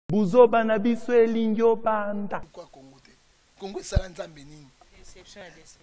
Buzoba na biso elingi obanda. Pourquoi Congo te? Congo esala Nzambe nini?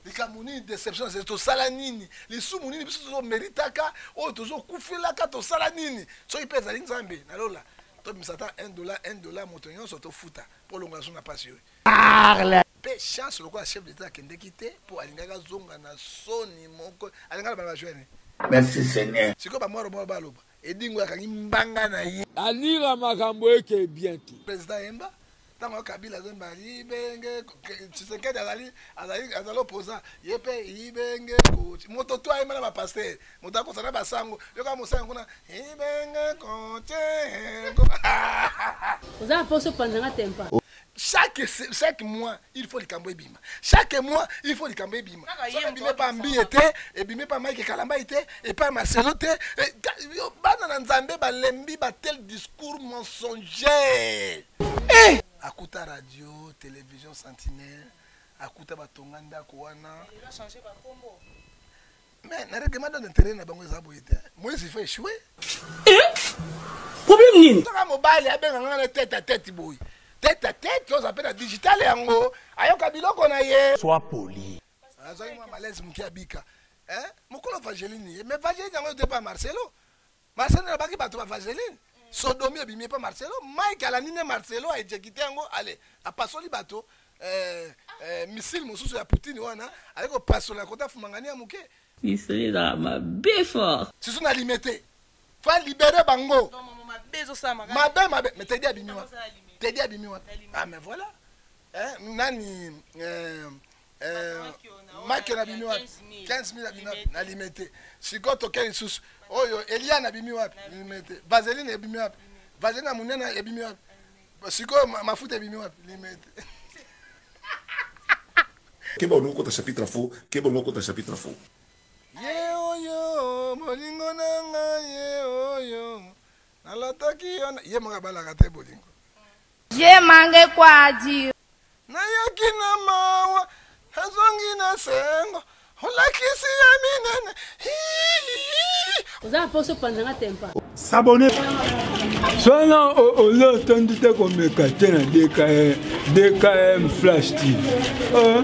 likambo nini deception ezali tosala nini lisumu nini biso tozomeritaka oyo tozokufelaka tosala nini soki mpe ezali nzambe na lola tobimisa ata 1 dollar 1 dollar moto nyonso tofuta mpo olongola so na mpasi oyo mpe chance lokola chef d'etat akendeki te mpo alingaki azonga na soni moko alingaki na bana bajoine merci seigneur sikoyo bamwaro moko baloba Edingo akangi mbanga na ye. Alira makambo eke bien te. President yemba ntango yo kabila azemba ibenge tshisekedi azali azali azali oposa ye mpe ibenge koti moto to ayemba na bapastere moto akosa na basango yoka mosango kuna ibenge kote oza mposo panzanga tempa chaque chaque mois il faut likambo ebima chaque mois il faut likambo ebima ebimi epa mbiye te ebimi epa mike kalambai te epa maselo te eh, bana na nzambe balembi batel discours mensonger eh! akuta radio télévision sentinelle akuta batonga ndako wana mais na règlement de l'intérieur na bango eza boye te moise il faut échouer problème nini soka mobali abenga nga na tete a tete boye tete a tete oza mpe na digital yango ayoka biloko na ye soit poli azwaki mwa malaise moke abika mokolo vageline ye mais vageline yango etepa marcelo Marcelo alobaki bato ba vaseline sodomi ebimi epa marcelo mike alandi nde marcelo aejekite yango ale apasoli bato eh, eh, misile mosusu ya poutine wana aye kopasola kota fumangani ya moke misili ezala mabe fort sisu na lime te fo alibere bango mabe mabe me tedi abimi wana tedi abimi wana ah mais voilà eh, nani eh, Euh, maki na bimi wapi 15000 abima na limete sikoyo toke lisusu oyo elia na bimi wapi limete vaseline ebimi wapi vaseline ya monene ebimi wapi sikoyo mafuta ebimi wapi limete keba olingi okota chapitre fo keba olingi okota chapitre fo ye oyo bolingo na ngai ye oyo nalataki yo ye moko abalaka te bolingo Je mange quoi à dire? Nayaki na mawa, nazongi na sengo, olakisi ya minene. Oza na poso panza nga tempa. S'abonner. Sona ozo tondi te komeka te na DKM, DKM Flash TV. Uh.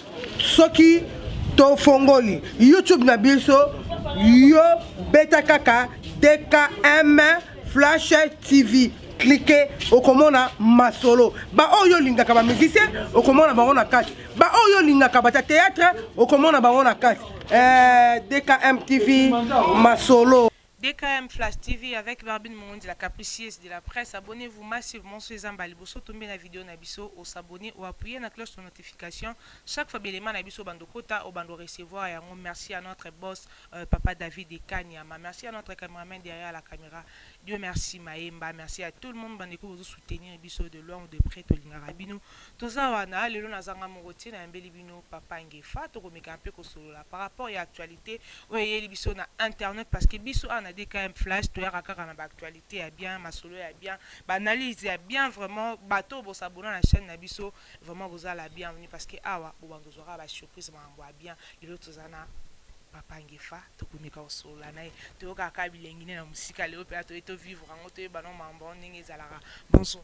soki tofongoli youtube na biso yo beta kaka dkm flash tv klike okomona masolo baoyo olingaka bamusicien okomona bango na kati baoyo olingaka bata théâtre okomona bango na kati eh, dkm tv masolo DKM flash TV avec Barbine Mongondi la capricieuse de la presse abonnez vous massivement soki eza mbala liboso tombe na video na biso o s'abonner o appuyer na cloche de notification chaque fois ba elements na biso obanda okota obanda o recevoir yango merci à notre boss euh, papa David et Kanyama merci à notre cameraman derrière la camera Dieu merci Maemba merci à tout le monde bande ko bozo soutenir biso de loin ou de près tolingaka bino Toza wana lelo nazanga moko te nayambeli bino papa Ngefa tokomeka pe kosolola par rapport ya actualite oyo eyeli biso na internet parce que biso awa na DKM flash toyaka kaka na ba actualite ya bien masolo ya bien ba analyse ya bien vraiment bato oyo bo s'abonna na chaine na biso vraiment boza la bienvenue parce que awa bobanda kozwa kaka ba surprise makambo ya bien lelo toza na papa Ngefa tokomeka kosolola na ye toyokaka kaka bilengi nde na mosika lelo mpe atoye tovivre yango toyeba no mambo yango ndenge ezalaka bonso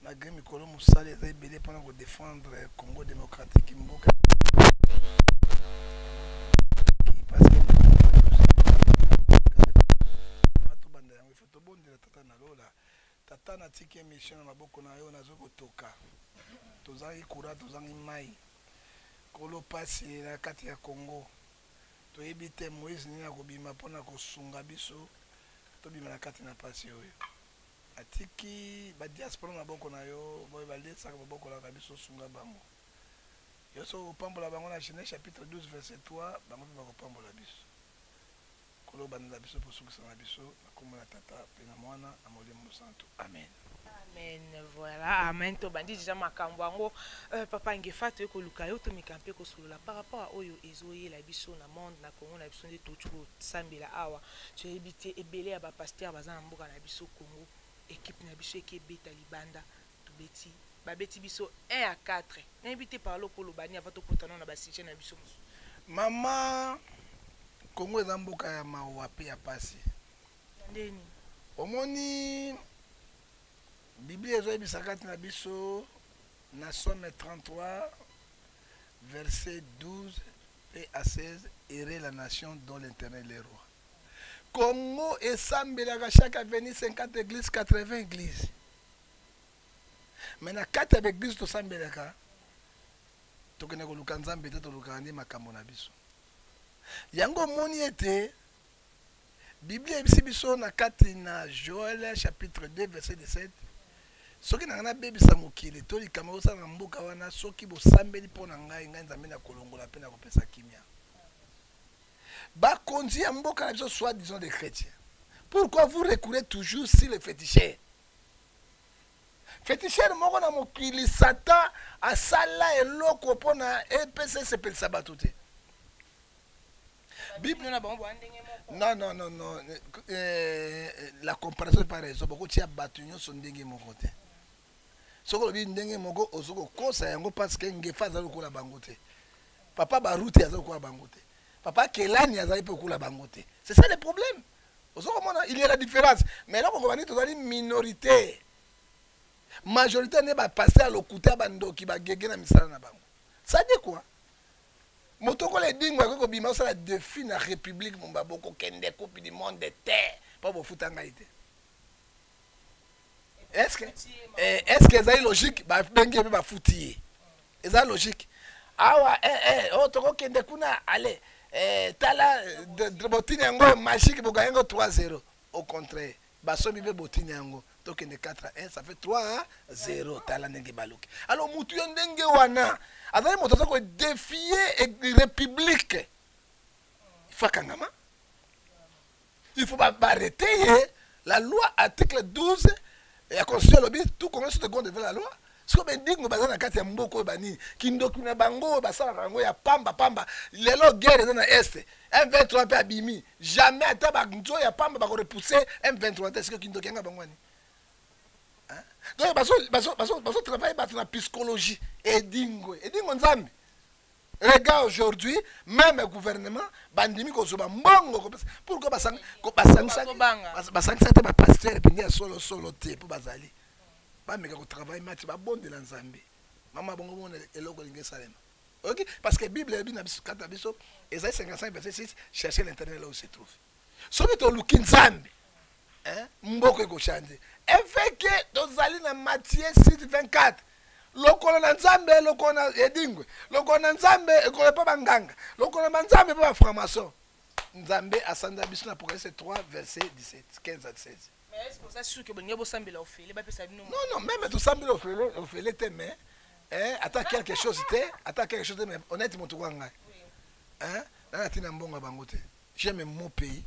malgré mikolo mosala eza ebele mpona kodefendre congo démocratique mboka Tata na tiki emission na maboko na yo nazo ko toka tozangi courant tozangi mayi kolo pasi na kati ya congo toyebi te moise nini akobima pona ko sunga biso tobima na kati na pasi oyo na tiki ba diaspora na maboko na yo boye ba liesaka ba bokolaka biso sunga bango yo soki okopambola bango na genese chapitre 12 verset 3 bango pe bakopambola biso. Nkolo obandela biso mpe osukisa na biso, na nkombo na Tata mpe na Mwana na Molimo Mosantu, amene. Amen voilà amen tobandi deja makambo yango euh, papa Ngefa toye koluka yo tomeka mpe kosolola par rapport à oyo ezoyela biso na monde na Congo na biso nde touti kosambela awa toyebi te ebele ya bapasteur baza na mboka na biso Congo ekipe na biso eke ebeta libanda Tobeti babeti biso 1 à 4 nayebi te parle okoloba nini avant tokota nao na ba sujet na biso mosusu. Mama Congo eza mboka ya mawa pe ya pasi. Na ndenge nini? Omoni Biblia ezoyebisa kati na biso na Somme 33 verset 12 pe à 16 heureux la nation dont l'Eternel est roi. Congo esambelaka chaque avenue 50 eglise 80 eglise. me na kati ya baeglize tosambelaka tokenda koluka nzambe te tolukaka nde makambo na biso yango omoni ete biblia eyebisi biso na kati na joel chapitre 2 verset 17 soki nanga nabebisa mokili to likambo ekosala na mboka wana soki bosambeli mpo na ngai ngai nzambe na kolongola mpe na kopesa kimia bakonzi ya mboka na biso soit disant des chrétiens pourquoi vous recourez toujours si le féticheur Fetishere moko na mokili Satan asala eloko mpo na epesa esepelisa bato te. Bible na bango ndenge moko. Non non non non eh, la comparaison est pas raison bokotia bato nyonso ndenge moko te. Soki olobi ndenge moko ozo kokosa yango parce que ngefa aza lokola bango te. Papa Baruti aza lokola bango te. Papa Kelani azali mpe lokola bango te. C'est ça le problème. ozo komona il y a la différence mais eloko ngoba nini tozali minorité majorité nde bapaster ya lokuta bandoki bagege na misala na bango sadi kua moto okola edingo akoki kobima osala defi na république momba bokokende coupe du monde te mpo bofuta ngai te estce eh, estce ezali logique babengi ye mpe bafuti ye eza logique awa eh, eh, oh, tokokende kuna ale eh, tala botini yango magique bogaye yango 3 0 au contraire basomi mpe botini yango tokende 4 1 ça fait 3 0 tala ndenge baluki alors motu ya ndenge wana azali moto aza kodefie république ifakangama il faut barrete ye la loi article 12 ya constitution alobi tout congolais sont égaux devant la loi siko bendingo baza na kati ya mboka oyo banini kindoki na bango oyo basalaka yango ya pamba pamba lelo guerre eza na est m23 mpe abimi jamais ata banzo ya pamba bakorepousse m23 te siko kindoki yanga bango ani donc bazotravaille bato na psychologie edingo edingo nzambe Regarde aujourd'hui, même le gouvernement, bandimi kozoba mbongo kopesa. Pourquoi basang basangisa basangisa te ba pasteur pendia solo solo te po bazali. Ba meka ko travailler match ba bonde la Nzambe. Mama bongo mona eloko lingi salema. OK parce que Bible ebi na biso kata biso ezali 55 verset 6 chercher l'intérêt là où se trouve. soki toluki nzambe eh, mboka ekochange efeke tozali na matie site 24 lokolo na nzambe lokolo na edingwe lokolo na nzambe ekolo epa banganga lokolo na nzambe epa baframason nzambe asanda biso na apocalypse 3 verset 17 15 à 16 non non meme tosambela ofele ofele te mais eh, ata quelque chose te ata quelque chose te mais honnête moto kwa ngai eh, nana ntina mbongo ya bango te j'aime mon pays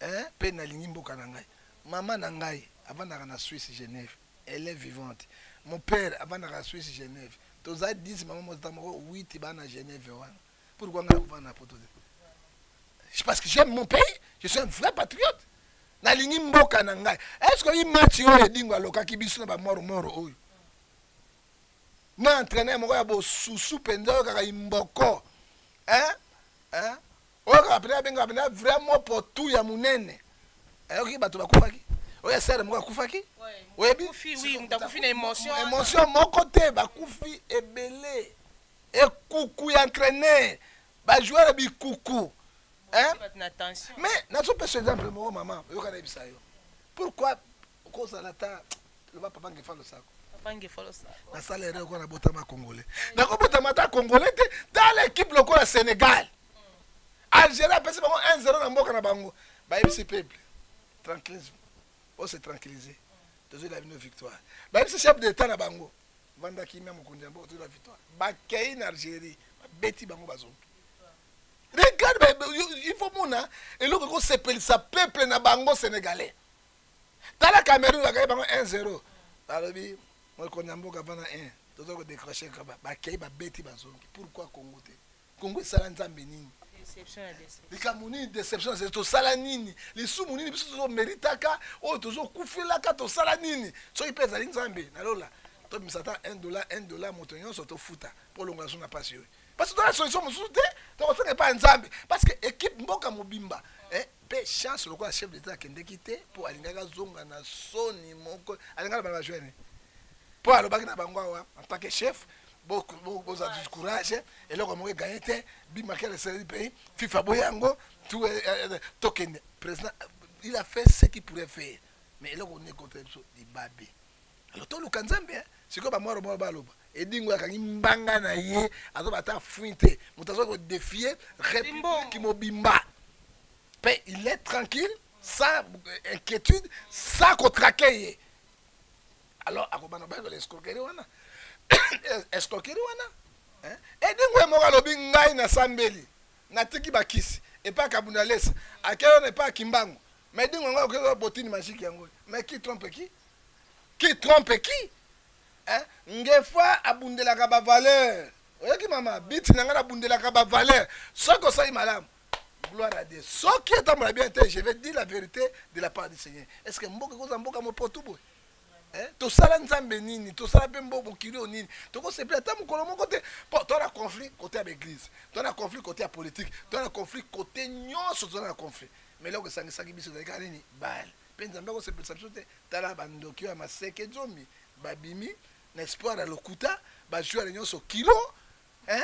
hein, pe nalingi mboka na ngai mama na ngai avandaka na suisse genève elle est vivante mon père avandaka na suisse genève toza 10 mama motata moko 8 baa na genève wana pourkua ngai akovanda na poto te parce que j'aime mon pays je suis un vrai patriote nalingi mboka na ngai est ce que oyi match oyo edingo alokaki biso na bamoromoro oyo na entraîneur moko ya bosusu mpenza oyo kaka imboko hein? Hein? oyo kaka pena abenga pena vrai mopo tu ya munene ayoki bato bakufaki oyo asere moko akufaki oyebi émotion moko te bakufi ebele ekuku ya entraîneur bajoueur bikuku mais nazopesa exemple moko mama oyoka nayebisa yo pourquoi okozala ata loba papa ngefa losako na sala ere okoa na botama congolais nakobotama ata congolais te tala ekipe lokola sénégal hmm. algérie apesi bango 1 0 na mboka na bango bayebisi peuple tranquillisme ose tranquillise hmm. tozwi la bino victoire bayebisi chef d'état na bango vanda kimia mokonzi ya mboka tozwi la victoire bakei na algérie babeti bango bazongi regarde il faut mona eloko ekosepelisa peuple na bango sénégalais tala cameroun bakei bango 1 0 balobi mokonzi ya mboka vana 1 toza kodecroche kaba bakei babeti bazongi pourkui congo te congo esala nzambe nini likambo nini deception na tosala nini lisumu nini biso tozomeritaka oyo tozokufelaka tosala nini soki mpe ezali nzambe na lola tobimisa ata 1 dollar 1 dollar moto nyonso tofuta mpo longola so na mpasi oyo parce que tona solution mosusu te tokosenga epai ya nzambe parce que équipe mboka mobimba eh, pe chance lokola chef d'etat akendeki te po alingaki azonga na soni moko alinga na bana bajoine po alobaki na bango awa en tant que chef boza du courage eloko moko eganye te bimakele esaleli pays fifa boye yango tokende président il a fait ce qui pourrait faire mais eloko nde ekota biso libabe alors toluka nzambe hein. sikoyo bamwaro moko baloba edingo akangi mbanga na ye azoba ata afuin te moto aza kodefie république mobimba mpe il est tranquille sans euh, inquiétude sans kotrake ye alors akobanda bayebela escroquerie wana escroquerie wana edingo ye moko alobi ngai nasambeli natiki bakisi epai kabunda lesa akei wana epai akimbango mais edingo yango akokei botini magike yango mais qui trompe qui qui trompe qui hein? ngefa abundelaka bavaleur oyoki mama biti na ngai nabundelaka bavaleur soki osali malamu gloire à dieu soki etambola bien te je vais dire la vérité de la part du seigneur est ce que mboka ekozala mboka mopotu boye eh? tosala nzambe nini tosala mpe mbo mokili oyo nini tokosepela ata mokolo moko te mpo to na conflit kote ya baeglise to na conflit kote ya politike to na conflit kote nyonso toza na conflit mais eloko esangisaki biso ezalika nini bale Pe Nzambe ako sepelisa biso te, tala ba ndoki oyo ya maseke zomi ba bimi na espoir ya lokuta, ba joueurs nionso kilo hein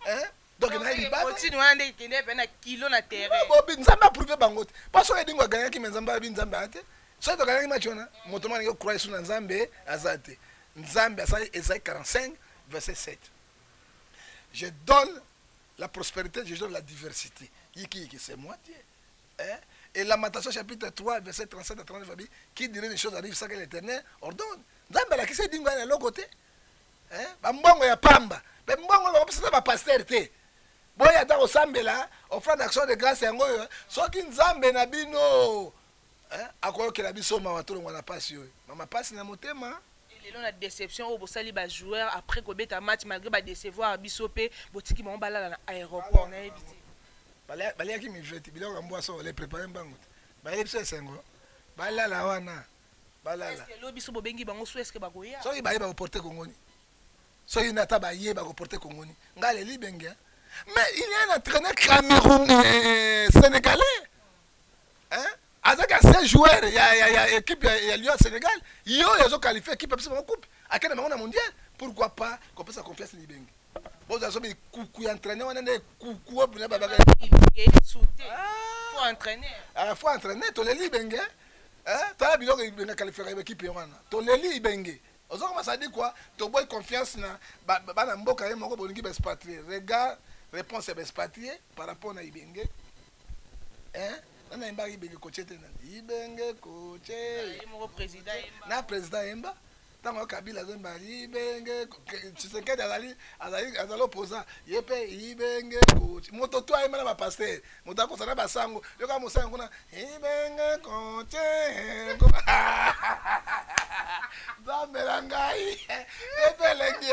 hein donc na libanda protein wana nde ikende pe na kilo na terrain bobi Nzambe a prouver bango te parce que Edingo gagnaki mais Nzambe abi Nzambe a te soki to gagnaki match wana moto mwana ko croire sur na Nzambe aza te Nzambe asali Esaïe 45 verset 7 je donne la prospérité je donne la diversité yiki yiki c'est moi Dieu Hein? Et Lamentation chapitre 3, verset 37 à 39, dit, qui dirait les choses arrivent sans que l'éternel ordonne. Nzambe alakisa edingo ya eloko te hein? bambongo ya pamba mpe mbongo bakopesaka bapaster te boya ata kosambela offrande action de grâce yango oyo soki nzambe na bino hein? akoyokela biso mawa tolongwa na mpasi oyo mama mpasi na motema lelo na déception oyo bosali bajoueur après kobeta match malgré badecevoir biso mpe botiki bango balala na aéroport nayebi te baliaki miveti biloko ya mbwa solo eprepare mbangu te bayeli biso esengo balala wana balala lelo biso bobengi bango so eske bakoya soki baye bakoporte kongoni soki na ata baye bakoporte kongoni ngai leli bengia mais il y a un entraîneur cameroun euh, sénégalais hein azaki ancien joueur ya, ya, ya équipe ya, ya Lyon Sénégal ye oyo azoqualifie équipe apesa bango coupe akende bango na mondial pourquoi pas kopesa confiance na libenge bozala so bikuku ya entraîneur wana nde kuku oyo mpena babaka fo entraîneur toleli libenge tala biloko libenge akalifiaka bakipe wana toleli libenge ozo koma sadi kua toboyi confiance na bana mboka ye moko bolingi baespatrie regard réponse ya baespatrie par rapport na ibenge hein nani ayembaka ibenge koce te nani ibenge koce na président ayemba ntango kabila azemba ibenge tshisekedi azali azali opposant ye mpe ibenge koce moto to ayemba na bapaster moto akosa na basango yoka mosango kuna ibenge koce nzambe na ngai ebelengi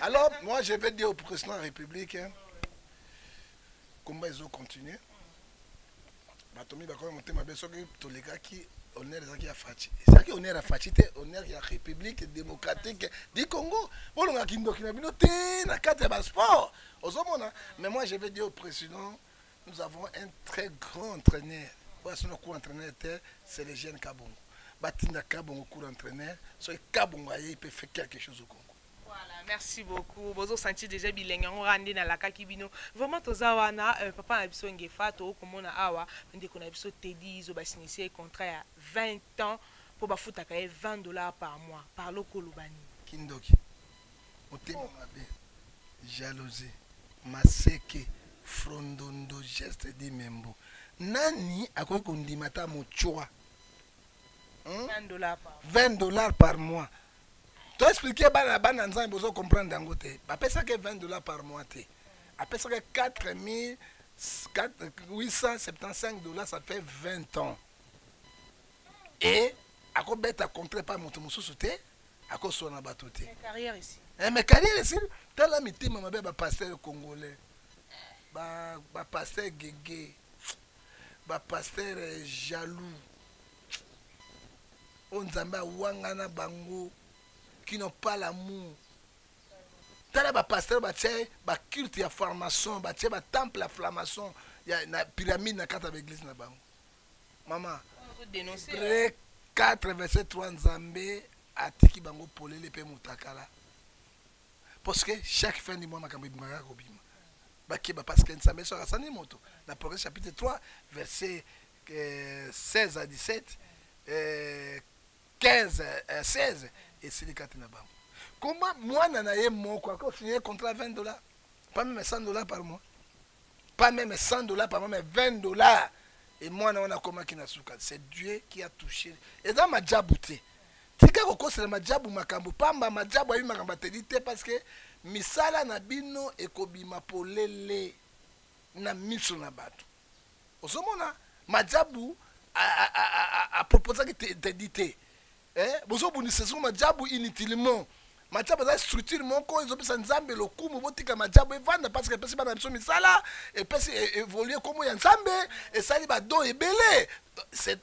Alors, moi, je vais dire au président de la République, hein, combat ils ont continué. Batomi bakoma motema be soki tolekaki honneur ezalaki ya faci ezalaki honneur ya faci te honneur ya république démocratique du congo bolonga kindoki na bino te na kati ya basport ozomona mais moi je vais dire au président nous avons un très grand entraîneur oyo asona cour entraîneur te c'est le jeune kabongo batinda kabongo cour entraîneur soki kabongo ayei mpe fait quelque chose au congo merci beaucoup bozo sentir déjà bilengi yango kaka nde nalakaki bino vraiment toza wana euh, papa na biso ngefa tokoki komona awa ndeko na biso tedi izo basinisye contrat ya 20 ans mpo bafutaka ye 20 dollars par mois par lokoloba nini kindoki motema oh. mabe jalousie maseke frondondo geste di membo nani akoki kondima ata mochwa 20 dollars par mois To expliquer bana bana nzambe bozo comprendre yango te. Ba pesa ke 20 dollars par mois te. A pesa ke 4875 dollars ça fait 20 ans. Et à quoi bête à contrer pas mon tomo sauté à quoi soit na bateau te. Carrière ici. Eh mais carrière ici. T'as la mité ma belle ba pasteur congolais. Ba ba pasteur gege. Ba pasteur jaloux. oyo nzambe awangana bango kino pas l'amour tala bapasteur batye baculte ya formation batye batemple ya flamation na pyramide na kati ya baeglise na bango mama pre 4 verset 3 nzambe atiki bango polele mpe motakala parce que chaque fin du mois makambo ebimaka kobima bakeba parce que nzambe soki asani moto na progrès chapitre 3 verset 16 à 17 euh, 15 euh, 16 esili kati na bango koma mwana na ye moko akofinye contrat 20 dollars pas même 100 dollars par mois pas même 100 dollars par mois mais 20 dollars et mwana wana akomaki na suka c'est dieu qui a touché eza majabu te tika kokosela majabu makambo pamba majabu ayebi makambo ateli te parce que misala na bino ekobima polele na miso na bato ozomona majabu aproposaki tedi te eh, bozobundisa soko majabu inutilement majabu aza structure moko ezopesa nzambe lokumu botika majabu evanda parce que epesi bana biso misala epesi e, évolue nkombo ya nzambe esali badon ebele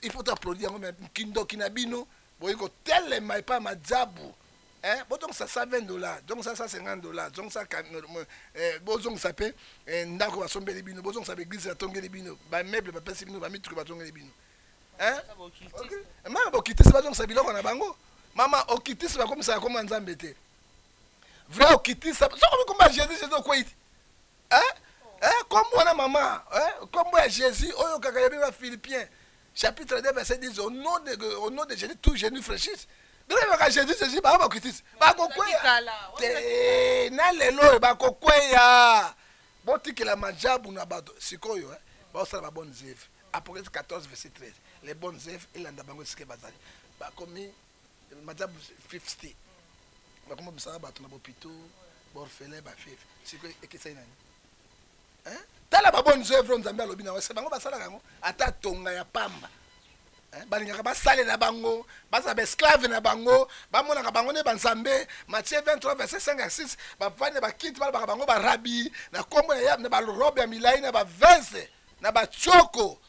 il faut applaudir yango kindoki na bino boyi kotelema epai ya majabu eh, bozongisa 120 dollars zongisa 150 dollars zongisa eh, bozongisa mpe eh, ndako basombeli bino bozongisa baeglise batongeli bino bameuble bapesi bino bamituki batongeli bino eh? mama bokitisi bazongisa biloko na bango mama okitisi bakomisaka koma nzambe te vrai okitisa sokomi komba jésus jésus okwei eh? eh, kombo wana mama eh, kombo ya jésus oyo kaka ya bino na philippien chapitre 2 verset 10 au nom de, au nom de jésus tout genou fraîchisse bino yebaka jésus jésus bango bakritise bakokweya te na lelo oyo bakokweya botikela majabu na bato sikoyo eh? baosala ba bonne zeve apocalypse 14 verset 13 les bonnes œuvres elanda bango esike bazali bakomi Madame 50 bakoma mosala bato na bopito baorphelin bafefe sikoyo ekesai nani tala babone zevre nzambe alobi na wese bango basalaka yango ata tonga ya pamba balingaka basalela bango baza baesclave na bango bamonaka bango nde banzambe matie 23 verset 5 ya 6 bavandi na bakiti balobaka bango barabi na nkombo ya na barobe ya milai na bavese na batioko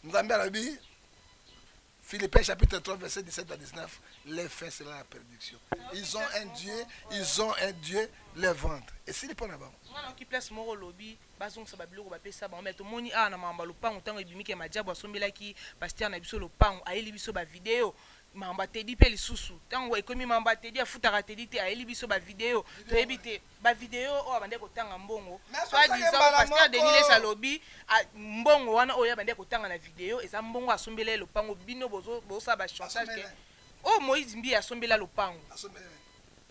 nzambe alobi Philippiens chapitre 3, verset 17 à 19, les faits c'est la perdition. Ils ont un Dieu, ils ont un Dieu, le ventre. Et s'il n'est pas là-bas. qui place moko lobi bazongisa babiloko bapesa bango me tomoni awa na mambo ya lopango ntango ebimiki ya madiabo asombelaki pastere na biso lopango ayeli biso bavideo mambo atedi mpe lisusu ntango ekomi mambo atedi afutaka atedi te ayeli biso bavideo toyebi te ba video oyo abandaki kotanga mbongo soit disant pasteur denis lesa alobi mbongo wana oyo abandaki kotanga na video eza mbongo asombela ye lopango bino bosala ba chantage ke oyo oh, moïse mbiye asombela lopango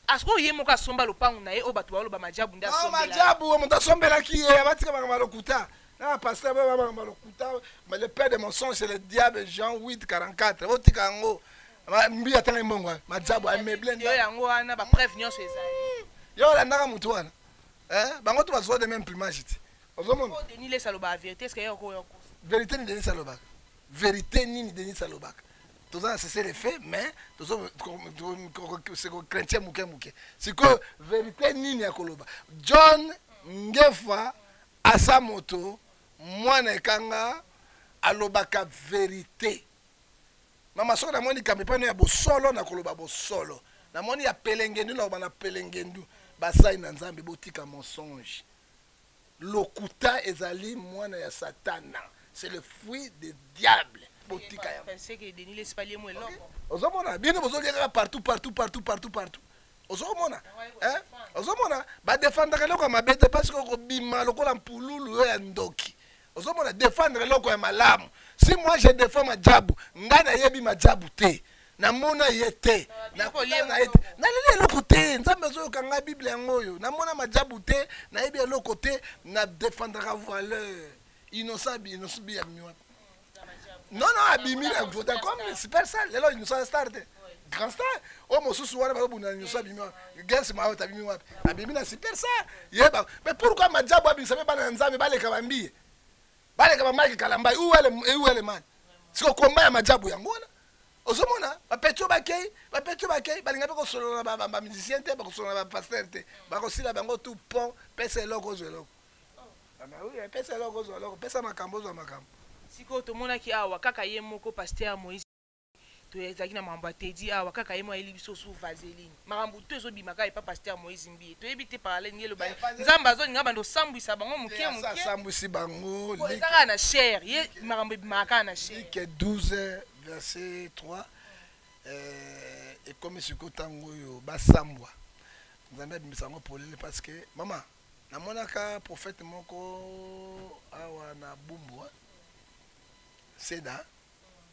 asiko ye moko asomba lopango na ye oyo bato baoloba majabu nde majabu oyo moto asombelaki ye abatika makambo ya lokuta na pasteur bayo makambo ya lokuta le père de mensonge c'est le diable jean 8 44 botika yango mbi atanga mbongo eh. majabu ameuble nda yango wana ba preuve nyonso ezali yo olandaka motu wana eh? bango to bazwa de même plumage te ozomona oh, denis lesa alobaka verité eske yo okoya kosa verité ni denis alobaka verité nini denis alobaka toza na sese refe mais tozokokrentie moke moke sikoyo verité nini ya koloba john ngefa asa moto mwana ekanga alobaka verité Mama soki namoni likambo epai no ya bosolo nakoloba bosolo namoni ya pelengendu naloba na pelengendu basali na nzambe botika mensonge lokuta ezali mwana ya satana c'est le fruit de diable botika yango ozomona bino bozolia kaka partout partout partout partout partout ozomona eh? ozomona badefandaka eloko ya mabe te parce que okobima lokola mpululu yo ya ndoki ozomona defendre eloko ya malamu si moi je défends majabu ngai nayebi majabu te namona ye te naleli eloko te nzambe azoyoka ngai bible yango oyo namona majabu te nayebi eloko te na defendaka valeur innocent innocent ya miwa non non abimi na vodacom super sale lelo innocent star te grand star oyo oh, mosusu wana bazobunda na nyonso abimi gens maot abimi wapi abimi na super sa yeba mais pourquoi majabu abimisa mpe bana ya nzambe baleka bambiye baleka bamaki kalambai ueleman siko komba ya majabu yango wana ozomona bapeti oyo bakei bapeti oyo bakei balinga mpe kosolola na bamusicien te bakosolola na bapaster te bakosila bango tout pont pesa eloko ozwa eloko ah, pesa eloko ozwa eloko pesa makambo ozwa makambo sikoyo tomonaki awa kaka ye moko paster moise toyezalaki na makambo ya tedi awa kaka ye mo ayeli biso su vaseline makambo to ezobima kaka epa paster moise mbiye toyebi te parallele nge elobani nzambe azolinga banda osambwisa bango moke mokeasambwisi bango eza kaka na cher ye makambo ebimaka kaka na cher 12 verset 3 eh, ekomi sikoyo ntango oyo basambwa nzambe abimisa yango polele parce que mama namonaka prophète moko awa na bumbu seda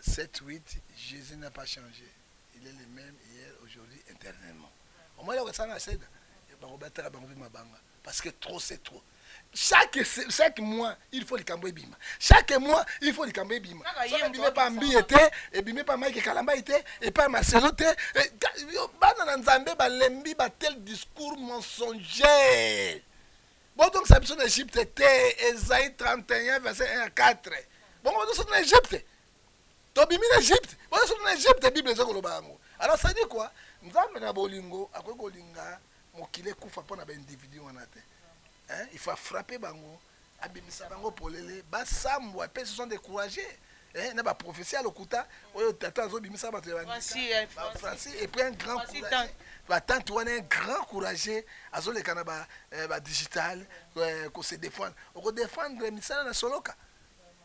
Sept huit Jesus n'a pas change il est le même hier aujourd'hui éternellement omoni eloko esala na seda bakobataka bango mpe mabanga parce que trop c'est trop chaque, chaque mois il faut likambo ebima chaque mois il faut likambo ebima ebimi epa mbiye te ebimi epa mike kalambai te epa maselo te eh, bana na nzambe balembi batel discours mensonger bozongisa biso na egypte te ezai 31 verset 1 ya 4 bongo bozosota na egypte tobimi na egypte bozosota na egypte bible eza koloba yango alors sadi kua nzambe na bolingo akoki kolinga mokili ekufa mpo na baindividu wana te il faut afrappe bango abimisa bango polele basambwa mpe se sont découragé Eh, na ba prophetie ya lokuta oyo tata azobimisa bato ya bafranci eh, epui un grand courage batante wana un grand courage azoleka na badigital eh, ba ko se défendre okodéfendre misala na soloka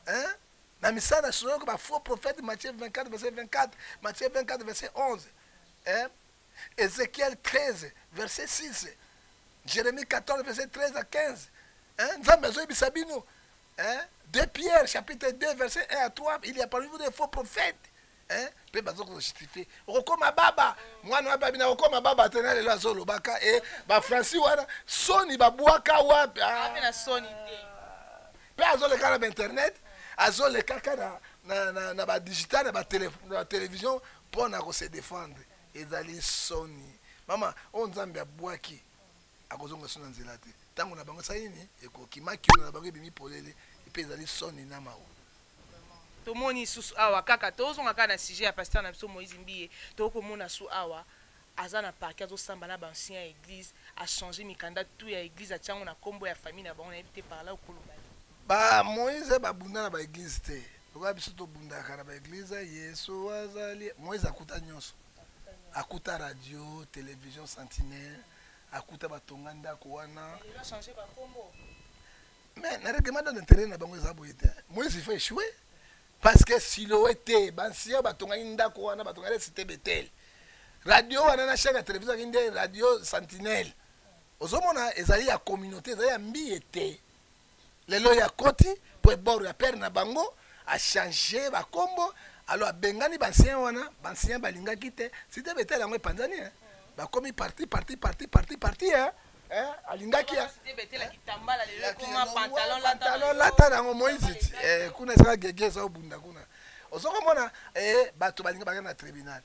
hein? na misala na soloka bafaux prophète matthieu 24 verset 24 matthieu 24 verset 11 hein? ézéchiel 13 verset 6 jérémie 14 verset 13 à 15 hein? nzambe azoyebisa bino hein? de pierre chapitre 2 verset 1 à 3 il y a parmi vous des faux prophètes hein? mpe baza kojustifie okokoma baba mwana wapi abina okoma baba te na lelo azolobaka e bafranci wana soni babwaka wapi ah. mpe azoleka na bainternet azolekaka na, na, na, na badigital na batelevizio mpo na kose defendre ezali soni mama oyo nzambe abwaki akozonga so na nzela te ntango na bango esali nini ekoki makiono na bango ebimi polele mpe ezali soni na mawa tomoni susu awa kaka tozonga kaka na sujet ya pasteur na biso moïse mbiye tokoki komona su awa aza na parke azosamba na baancien ya église achange mikanda tu ya église atya yango na nkombo ya famille na bango nayebi te parla okoloba ba moïse babunda na baeglise te lokola biso tobundaka na baeglise yesu azali moïse akuta nyonso akuta radio télévision sentinelle akuta batonga ndako wana mais na règlement de l'intérieur na bango eza boye te moise il faut échouer parce que siloe te bansiya batongaki ndako wana batongaki site betele radio wana na chaîne ya télévision aki nde radio sentinelle ozomona ezali ya communauté ezali ya mbiye te lelo ye akoti mpo ebor ya pere na bango achange bakombo alo abengani bansien wana bansien balingaki te site betele yango epanzani eh. bakomi parti parti parti parti parti eh. Eh, alingaki eh. pantalon lata na yango moise ti eh, kuna ezaka gege eza obunda kuna ozokomona eh, bato balingi bakenda na tribunal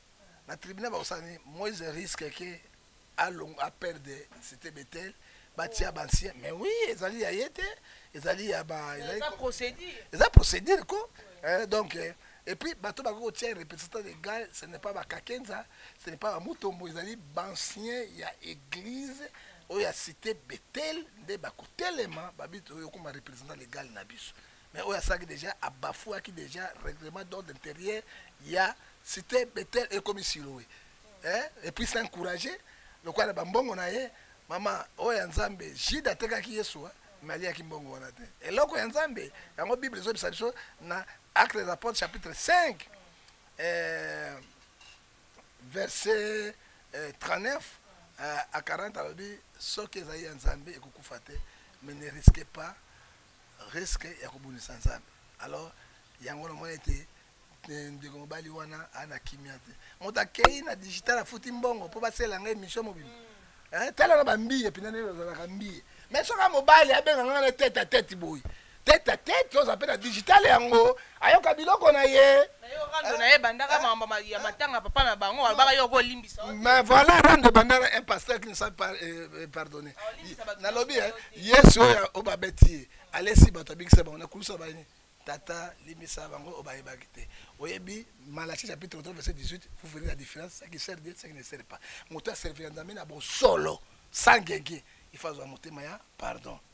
na tribunal bakosala nini moise risque ke alongo a perdre c'était Bethel batia ba ancien mais oui ezali ya ye te ezali ya ba ezali ko- procédure eza procédure ko Eh, donc eh, et puis bato bakoki kotia représentant légal ce n'est pas bakakenza ce n'est pas bamutombo ezali bancien ya église oyo ya cité bethel nde bakotelema babito oyo okoma représentant légal na biso Mais oyo asalaki deja a bafouaki deja règlement d'ordre intérieur ya cité Bethel ekomi Siloe. Hein? Et puis c'est encouragé lokola na bambongo na ye mama oyo ya Nzambe Jude atekaki Yesu hein? mais aliaki mbongo wana te. Eloko ya Nzambe yango Bible ezobisa biso na Actes des Apôtres chapitre 5 euh, verset euh, 39 euh, à 40 alobi soki ezali ya Nzambe ekokufa te mais ne risquez pas risque ya kobundisa nzambe alors yango na mwana ete ndeko mobali wana ana kimia te moto akei na digital afuti mbongo mpo basela ngai émission mobima mm. eh, tala na bambiye mpena ndenge ozalaka mbiye mais soka mobali abenga ngai na tete a tete boye tete a tete oza mpe na digital yango ayoka biloko na ye rando na ye bandaka makambo ya matanga papa na bango alobaka yo okolimbisa mais voilà rando ebandaka un pasteur qui ne soit pas euh, euh, pardonné ah, nalobi hein, yesu oyo oyo babeti ye alesi bato abikisa bango nakulusa bani tata limbisa bango oyo bayebaki te oyebi malachi chapitre 3 verset 18 vous verrez la différence ce qui sert dieu ce qui ne sert pas moto aservira nzambe na bosolo sans genge il faut azwa motema ya pardon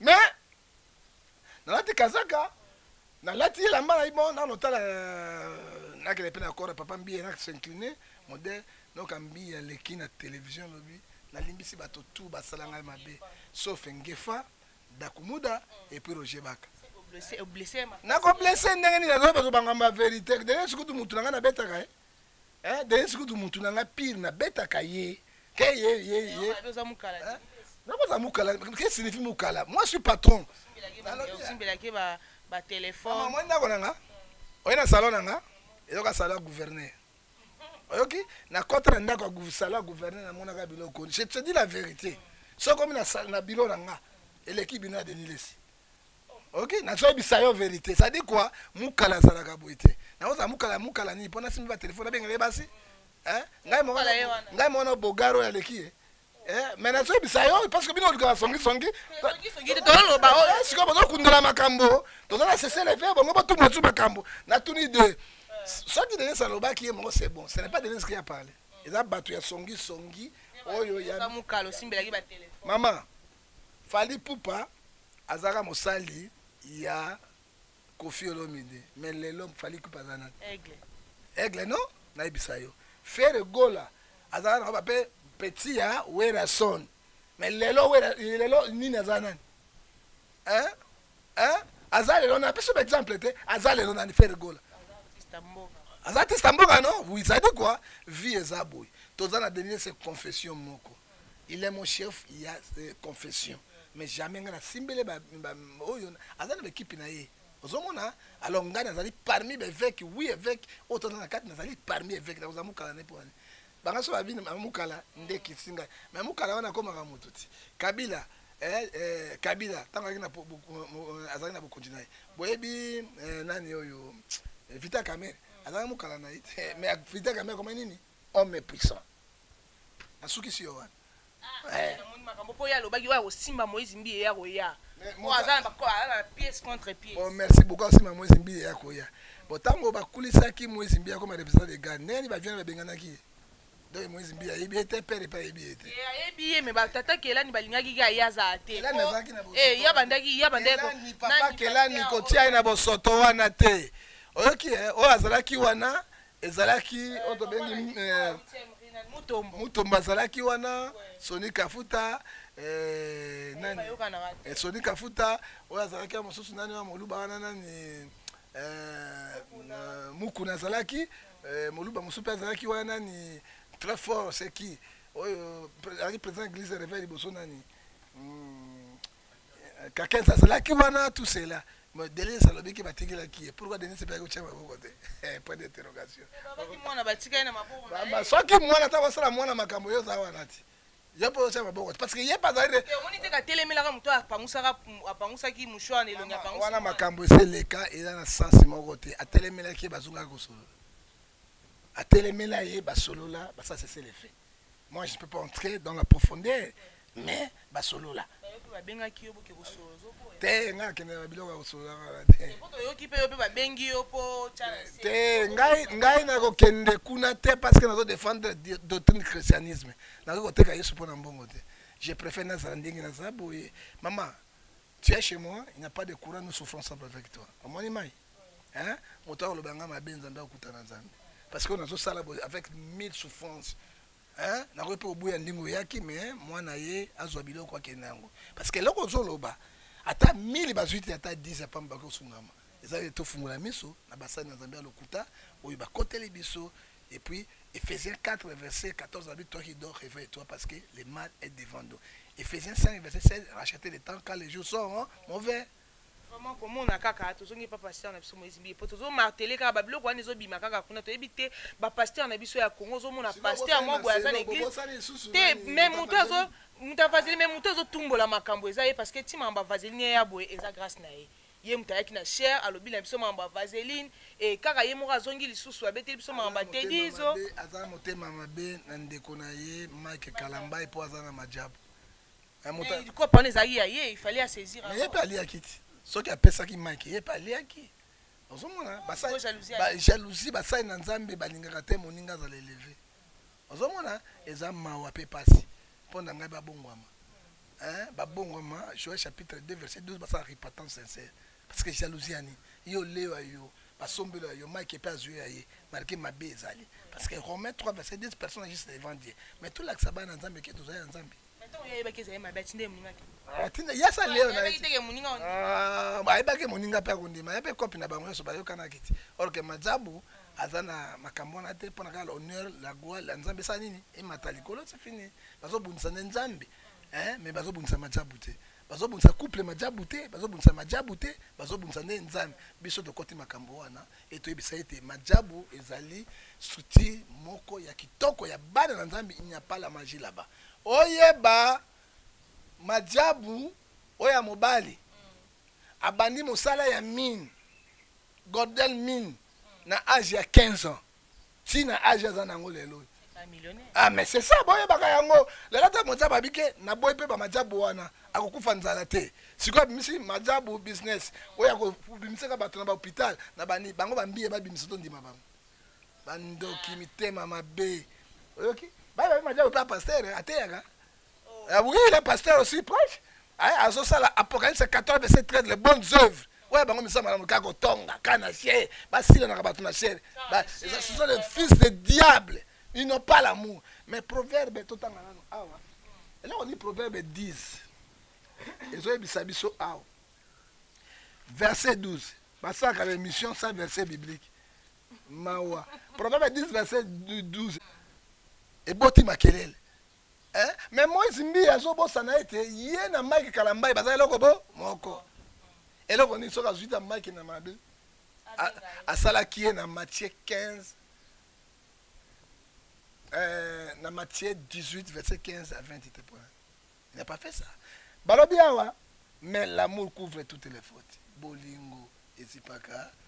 mais nalati kazaka nalati elamba na ibo nano tala euh, nakele mpe na kora papa mbiye na s'incline modèle noka mbiye aleki na télévision lobi nalimbisi bato tu basala ngai mabe sauf ngefa dakumuda epuis roger baka nakoblesse ndenge nini azoba kobangamba verité ndenge sikutu motu na ngai nabetaka ye eh? Eh, Denise kutu mutu na nga pire na betaka ye. Ke ye ye ye. Eh, oza mukala. Eh? Nakoza mukala, ke signifie mukala. Moi je suis patron. Osimbela ke ba ba téléphone. Maman, moi ndako na nga. Oye na salon na nga. Ezoka salon ya gouverneur. Oyoki? Na kota na ndako ya salon ya gouverneur na monaka biloko. Je te dis la vérité. Soki omi na na bilo na nga, eleki bino ya Denis Lessi. ok nazo yebisa yo verité ça dit quoi mukala azalaka boye te nakozala mukala mukala nini mpo nasimbi batelefone nabengaka ye basi eh? ngai moko ngai moko na bogaro oyo aleki ye eh? mais nazo yebisa yo parce que bino olukaka songisongi eh, sikoyo bozokundola makambo toza na sesele mpe bongo botumba tu makambo natuni de soki denise alobaki ye moko c'est bon ce n'est pas denise qui a parlé eza bato ya songisongi oyo ya mama Fally ipupa azalaka mosali ya koffi olomide mais lelo fally ipupa aza nani aigle aigle non nayebisa yo fere gola azalaka na bape petit ya werason mais lelo wera lelo nini aza nani hein hein aza lelo na biso exemple te aza lelo nani fere gola aza artiste ya mboka no oui ezali kua vie eza boye toza na denise confession moko il est mon chef il y a euh, confession mais jamais ngai nasimbele oyo aza na baekipe na ye ozomona alors ngai nazali parmi baeveke oui eveke oyo toza na kati nazali parmi eveke nakozala mokala ne mpona banga so babini mukala nde kisinga me mukala wana akomaka motu ti kabila eh, eh, kabila ntango azalaki na bokonzi na ye boyebi eh, nani oyo vita kamere azalaki mukala na ye te me vita kamere akoma nini homme puissant nasukisi yo wana ah, eh. namoni makambo mpo ye alobaki oyo akosimba moise mbiye ye akoya po aza na pièce contre pièce oh, merci beaucoup asimba moise mbiye ye akoya bon ntango bakulisaki moise mbiye akoma representant de gane ndenge ni baviane babenganaki ye donc moise mbiye ayebi ye te pere epai ayebi ye te eh, ayebi ye me batata kelani balingaki ki aye azala te eh, ya bandaki ya bandaki papa kelani kotia ye na bosoto wana te oyoki oyo azalaki wana ezalaki oyo tobengi eh, mutombo azalaki wana soni kafuta eh, eh, soni kafuta oyo azalaki ya mosusu nani wa moluba wana nani mukuna azalaki moluba mosusu mpe azalaki wana nani très fort seki oyo azalaki président église reveil liboso nani hmm. Kakens azalaki wana tout cela. Mais Denis alobi ki batikelaki ye. Pourquoi Denis pe akotia maboko te? Eh, point d'interrogation. Babaki mwana batikali na maboko na ye. Soki mwana ata kosala mwana makambo yo za wana ti. Yo pe otia maboko te parce que ye pe azali de. Eh, omoni te katelemelaka moto apangusaka apangusaki mouchoir na elongi apangusi. Wana makambo eseleka eza na sens moko te. Atelemelaki ye bazongaki kosolola. Atelemela ye basolola basasa esele fait. Moi, je ne peux pas entrer dans la profondeur, mais basolola. babengaki yo boke kosolola ozoboya te ngai akende na biloko ya kosolola kaka te poto oyoki mpe yo mpe babengi yo mpo te ngai ngai nakokende kuna te parce que nazo défendre doctrine christianisme nakoki koteka yesu mpo na mbongo te je préfère nazala ndenge naza boye mama Tu es chez moi, il n'y a pas de courant, nous souffrons ensemble avec toi. Omoni mai? Hein? Moto akoloba nga mabe nzambe akutana nzambe. Parce que nazo sala avec mille souffrances. Hein? Nakoki pe obuya ndingo yaki mais mwana ye azwa biloko akende yango. Parce que eloko ozoloba ata 1000 bazwi te ata 10 ya pamba bakosungama. Eza ye tofungola miso na basani ya nzambe ya lokuta oyo bakoteli biso Et puis, Ephésiens 4, verset 14, la Bible, toi qui dors, réveille-toi parce que le mal est devant nous. Ephésiens 5, verset 16, rachetez le temps car les jours sont hein, mauvais. vraiment komona kaka tozongi epa pasteur na biso moïse mbiye mpo tozomartele kaka babiloko wana ezobima kaka kuna toyebi te bapasteur na biso ya congo ozomona pasteur moko boye aza na église te me moto azo moto avazeli me moto azotumbola makambo eza ye parce que ntima ya bavazeli ne ya boye eza grâce na ye Ye moto ayaki na chair alobi na biso makambo ya vaseline et kaka ye moko azongi lisusu abeteli biso makambo ya tedizo. Aza na motema mabe na ndeko na ye Mike Kalambayi po aza na majabu. Kopo wana ezalaki ya ye il fallait a saisir yango. Mais ye pe aliaki ti soki apesaki Mike ye pe aliaki. Ozomona ba jalousie basali na Nzambe balingaka te moninga azala eleve. Ozo mona eza mawa pe pasi po na ngai ba bongwama hein ba bongwama Joel chapitre 2 verset 12 basala repentance sincère parce que jalousie ya nini yo leo ya yo ba sombelo ya yo Mike pe azui ya ye marque mabe ezali parce que Romain 3 verset 10 personne juste devant Dieu mais tolakisa bana nzambe ke tozali ya nzambe atinda ye asali leo ayebaki moninga mpe akondima ye mpe kopi na bango nyonso bayokanaki ti orke majabu aza na makambo wana te mpo na kaka honneur la gloire ya nzambe esala nini emata likolo ti fini bazobundisa nde nzambe me bazobundisa majabu te bazobundisa couple majabu te bazobundisa majabu te bazobundisa nde nzambe biso tokoti makambo wana etoyebisa ete majabu ezali structure moko ya kitoko ya bana na nzambe inyapala maji laba oyeba majabu oyo ya mobali abandi mosala ya mine gordel mine na age ya 15 ans ti na age aza na yango lelo oyo ah mais c'est ça boyebaka yango lelo ata mojabu abike naboyi mpe bamajabu wana akokufa nzala te sikoyo abimisi majabu business oyo akobimisaka bato na bahôpital na bani bango bambiye babimisa tondima bango bandoki mitema mabe oyoki bayebabi majabu mpe apaster ateyaka Ah oui, le pasteur aussi prêche. Ah, azo sala Apocalypse 14 verset 13 les bonnes œuvres. Ouais, bango misama na mukako tonga kana chez basila na kabatu na chez. Ba ce sont les fils de diable. Ils n'ont pas l'amour. Mais proverbe tout tanga nanu awa. Et là on dit proverbe 10. Ezo yebisa biso awa. Verset 12. Basaka l'émission sans verset biblique. Mawa. Proverbe 10 verset 12. Eboti makelele. Eh, mais Moise Mbiye azobosana ete ye na Mike Kalambayi baza eloko bo moko. Eloko nini soki azwi ta Mike na mabe? Asalaki ye na Matthieu 15 euh, na Matthieu 18 verset 15 à 20 te point. Il n'a pas fait ça. Balobi awa mais l'amour couvre toutes les fautes. Bolingo ezipaka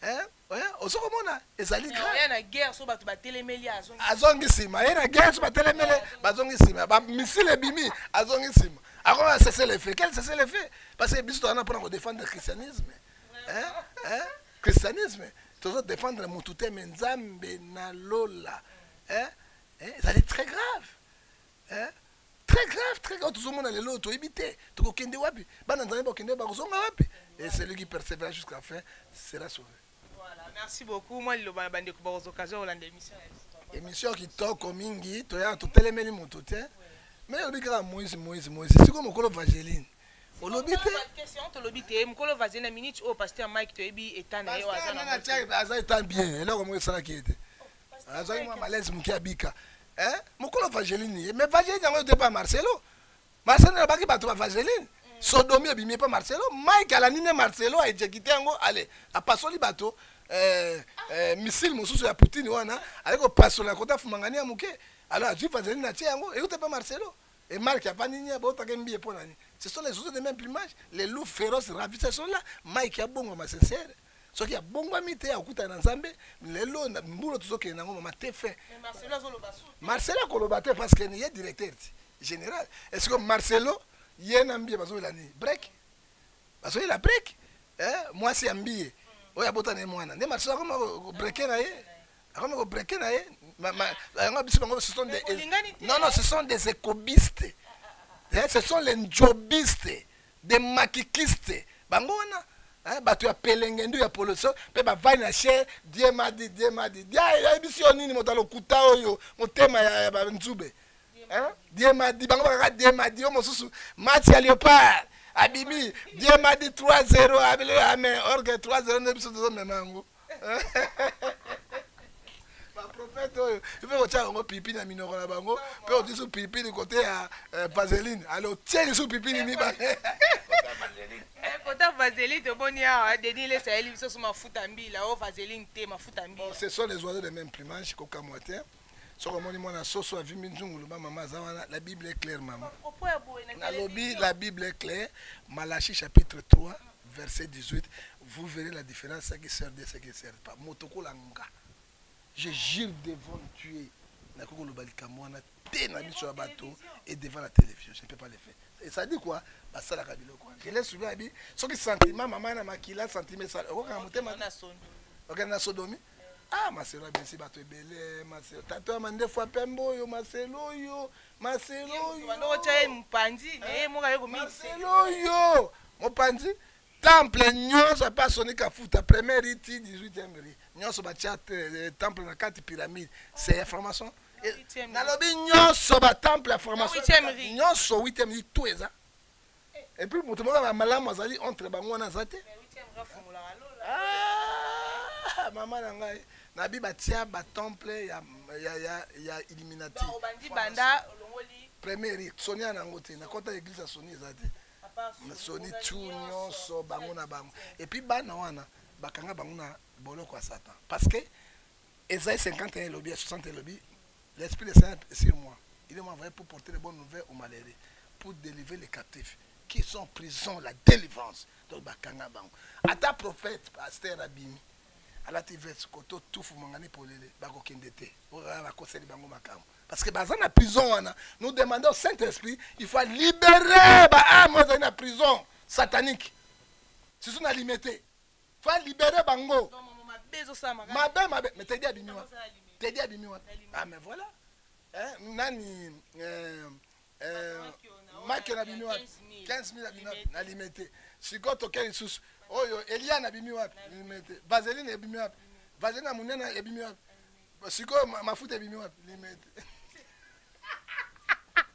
Eh, eh, ozo komona ezali grave na guerre so bato batelemeli azongi azongi nsima ye na guerre so batelemeli bazongi nsima bamisile ebimi azongi nsima akoma na cesse le fait quel cesse le fait parce que biso tozana mpona kodefendre christianisme eh, eh, christianisme tozo defendre motu te me nzambe na lola eh, eh, ezali très grave eh? très grave très grave tozomona lelo oyo toyebi te tokokende wapi bana nzambe bakokende wapi bakozonga wapi et celui qui persévère jusqu'à fin sera sauvé voilà merci beaucoup mwa liloba na bandeko bakozwa occasion kolanda émission émission kitoko mingi toya totelemeli moto te mais olobi kaka moise moise moise sikoyo mokolo vageline olobi te tolobi te mokolo vaze na minute oyo paster mike toyebi eta na ye aza eta bien eloko moko esalaki ye te azwaki mwa malaise moke abika eh mukolo vaseline ye mais vaseline yango ete pa marcelo marcelo na baki bato ba vaseline mm. sodomi ebimi epa marcelo mike alandi nde marcelo aejekite yango ale apasoli bato eh, eh, missile mosusu ya poutine wana aye kopasola kota fumangani ya moke alors azwi vaseline atie yango eyuta epa marcelo et marke avandi nini abotaka mbiye mpo na nini ce sont les oiseaux de même plumage les loups féroces ravisseurs sont là mike abongama sincere soki abongwami te akutana na nzambe lelo na mbulo tozokende nango mama te fin marcelo akoloba te parce que ye directeur ti général est ce que marcelo ye na mbiye bazoyela nini break bazoyela break eh, mwasi ya mbiye mm. oyo abota na ye mwana nde marcelo akoma breke na ye akoma kobreke na ye yango biso bango ce sont des non non ce sont des écobistes ah, ah, ah, eh, ce sont les njobistes Des maquikistes bango wana hein, bato ya pelengendu ya poloso mpe bavandi na che die ma di die ma di dia ayebisi yo nini moto ya lokuta oyo motema ya, ya banzube hein? die ma di bango bakaka die ma di yo mosusu match ya leopard abimi die ma di 3-0 abele ame orge 3-0 nde biso tozomema yango baprofete oyo ipe kotya yango pipi na minoko na bango mpe otie su pipini kote ya eh, vaseline ale otie lisu pipini mibale kota vaseline tomoni awa denis lesa yeli biso so mafuta mbila o oh, vaseline te mafuta mbila ce sont les oiseaux de même plumage kokamwa te soki omoni mwana soso avimbi nzungu loba mama aza wana la bible est claire mama nalobi la bible est claire malachi chapitre 3 verset 18 vous verrez la différence ce qui sert de ce qui ne sert pas moto kola nga je jure devant dieu nakoki koloba likambo wana te na miso ya bato et devant la télévision je ne peux pas le faire et ça dit quoi basalaka biloko wana je laisse souvent abi soki sentiment mama na makila sentiment esala okokanga motema okende na sodomi okay, ah maselo abimisi bato ebele maselo tata ya mandefu ya pembe oyo maselo oyo maselo oyootya ye mopanzi na ye moko aye komaselo oyo mopanzi temple nyonso apa asoni kafuta première ri ti 18e ri nyonso batya eh, temple na kati pyramide c'est ya formation eh, nalobi nyonso batemple ya formation nyonso 8e ri to eza Et puis moto moko na malamu azali entre bango wana aza te ah, mama na ngai nabi batia batemple ya, ya, ya, ya illuminati premier rite soni ya nango te nakota eglise ya soni eza te soni tu nyonso bango na bango epuis bana wana bakanga bango na boloko ya satan parce que Esaïe 51 elobi, ya 60 elobi, l'Esprit de Seigneur est sur moi. Il m'a envoyé pour porter les bonnes nouvelles aux malheureux, pour délivrer les captifs qui sont en prison, la délivrance. Donc bakanga bango. Ata prophète, pasteur abimi, alati veste koto tufu mangani polele, bakokende te. Oyo bakoseli bango makambo. Parce que baza na prison wana. Nous demandons au Saint-Esprit, il faut libérer ba âmes dans la prison satanique. C'est ce qu'on a limité. va libere bango mabe mabe mais tedi abimi wa tedi abimi wa ah mais voilà eh, nani eh, eh, makio na bimi wapi 15 000 abimi wapi nalime te sikoyo toke lisusu oyo eliane abimi wapi lime te vaseline ebimi wapi vaseline ya monene ebimi wapi sikoyo mafuta ebimi wapi lime te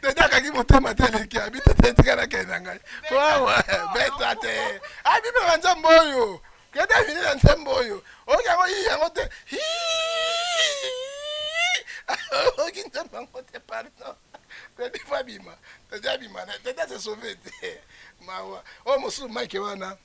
tete akangi motema te eleki abi tete etika nakende na ngai wawa beta te abi mpe na nzambe oyo kende avini na nzambe oyo oyoki yango yi yango te oyoki nzambe yango te pardon tete fo abima tete abima tete ase sauve te mawa oyo mosusu mike wana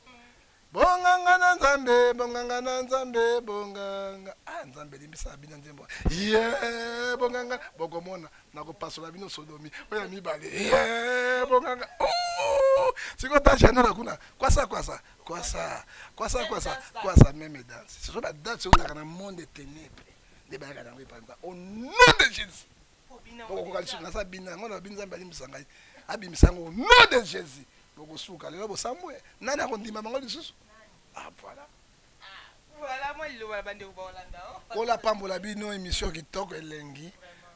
Bonganga na Nzambe, bonganga na Nzambe, bonganga. Ah, Nzambe limbisa bino nzembo. Yeah, bonganga, bokomona nakopasola bino sodomi. Oya mibale. Yeah, bonganga. Oh! Siko ta janela kuna. Kwasa kwasa, kwasa. Kwasa kwasa, kwasa meme danse. Ce sont ba danse otaka na monde ténèbres. Nde bayaka na ngai panza. Au nom de Jésus. bokokoka lisusu naza bina yango na bini nzambe alimbisa ngai abimisa yango nom de jésus bokosuka lelo bosambwe nani akondima bango lisusu ah, voilà kola ah, pambola bino émission kitoko elengi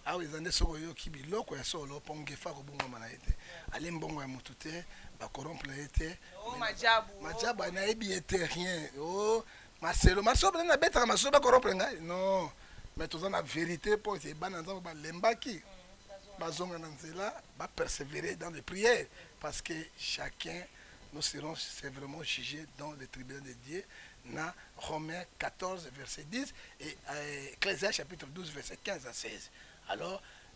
awa eza nde soki oyoki biloko ya solo mpo ngefa akobongwama na ye te ali mbongo ya motu te bakorompre na ye te majabu oh, oh. nayebi ye te rien o oh, maselo masolo mpenza nabetaka masolo bakorompre ngai non mais toza na vérité mpo ete bana nzambe balembaki bazonga na nzela bapersévérer dans les prières parce que chacun nous serons sévèrement jugés dans le tribunal de Dieu na Romains 14 verset 10 et euh, Ecclésias chapitre 12 verset 15 à 16 alors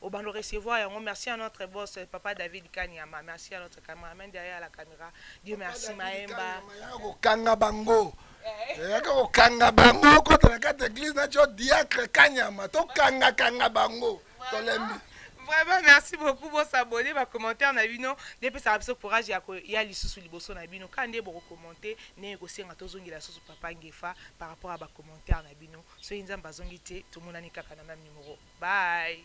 obando recevoir yango merci à notre boss euh, papa david kanyama merci à notre cameraman derrière la caméra dieu merci maemba kokanga bango eh. yaka kokanga bango okota na kati église na tio diacre kanyama tokangakanga bango tolembi vraiment merci beaucoup bosabone bacommentaire na bino nde epesaka biso courage ya koya lisusu liboso na bino kaka nde bokokommente ndenge kosenga tozongela lisusu papa ngefa par rapport ya bacommentaire na bino soki nzambe azongi te tomonani kaka na mame numero bye